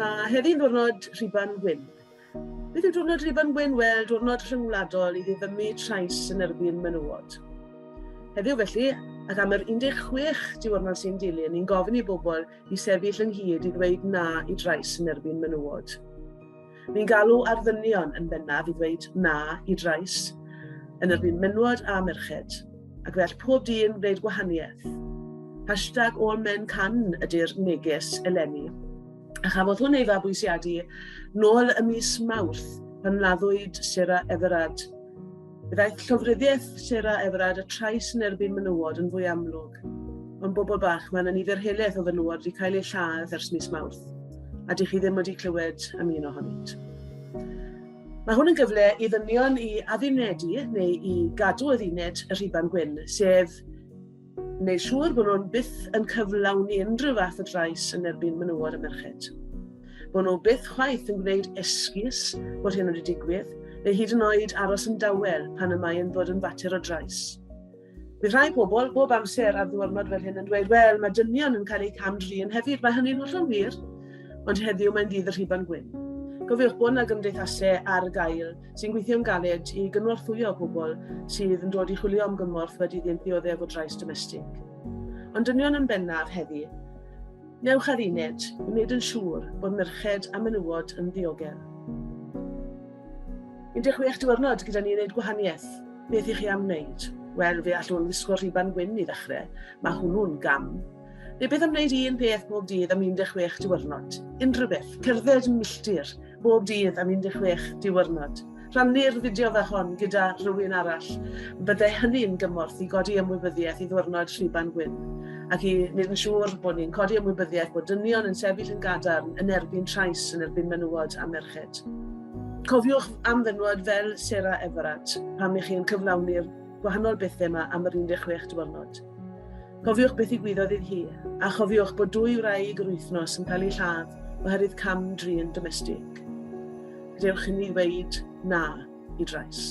Mae heddiw'n ddwrnod Rhuban Wyn. Beth yw diwrnod Rhuban Wyn? Wel, diwrnod rhyngwladol i ddiddymu trais yn erbyn menywod. Heddiw felly, ac am yr 16 diwrnod sy'n dilyn, ni'n gofyn i bobl i sefyll ynghyd i ddweud na i drais yn erbyn menywod. Ni'n galw ar ddynion yn bennaf i ddweud na i drais yn erbyn menywod a merched, ac fe all pob dyn wneud gwahaniaeth. Hashtag all men can ydy'r neges eleni. A chafodd hwn ei fabwysiadu nôl y mis Mawrth pan laddwyd Sarah Everard Daeth llofruddiaeth Sarah Everard a trais yn erbyn menywod yn fwy amlwg. Mewn bobl bach, mae yna nifer helaeth o fenywod wedi cael eu lladd ers mis Mawrth, a dych chi ddim wedi clywed am un ohonynt. Mae hwn yn gyfle i ddynion i addunedi neu i gadw adduned y rhiban gwyn, sef Wneud siŵr bod nhw'n byth yn cyflawni unrhyw fath o drais yn erbyn menywod a merched. Bod nhw byth chwaith yn gwneud esgus bod hyn wedi digwydd, neu hyd yn oed aros yn dawel pan y mae'n bod yn fater o drais. Bydd rhai pobl bob amser ar ddiwrnod fel hyn yn dweud, wel, mae dynion yn cael eu cam-drin hefyd, mae hynny'n hollol wir, ond heddiw mae'n ddydd y rhiban gwyn. Gofiwch bod yna gymdeithasau ar gael sy'n gweithio'n galed i gynorthwyo pobl sydd yn dod i chwilio am gymorth wedi iddynt ddioddef o drais domestig. Ond dynion yn bennaf heddi, newch ar uned i wneud yn siŵr bod merched a menywod yn ddiogel. 16 diwrnod gyda ni i wneud gwahaniaeth. Beth i chi am wneud? Wel, fe allwn ddisgwyl rhiban gwyn i ddechrau. Mae hwnnw'n gam. Rhywbeth am wneud un peth bob dydd am 16 diwrnod. Unrhyw beth. Cerdded yn milltir bob dydd am 16 diwrnod. Rhannu'r fideo fe hon gyda rhywun arall. Byddai hynny'n gymorth i godi ymwybyddiaeth i ddwrnod Rhuban Gwyn ac i wneud yn siŵr bod ni'n codi ymwybyddiaeth bod dynion yn sefyll yn gadarn yn erbyn trais yn erbyn menywod a merched. Cofiwch am fenywod fel Sarah Everard pan ych chi yn cyflawni'r gwahanol bethau yma am yr 16 diwrnod. Cofiwch beth ddigwyddodd iddi hi, a chofiwch bod dwy wraig yr wythnos yn cael eu lladd oherwydd cam-drin domestig. Gadewch i ni ddweud na i drais.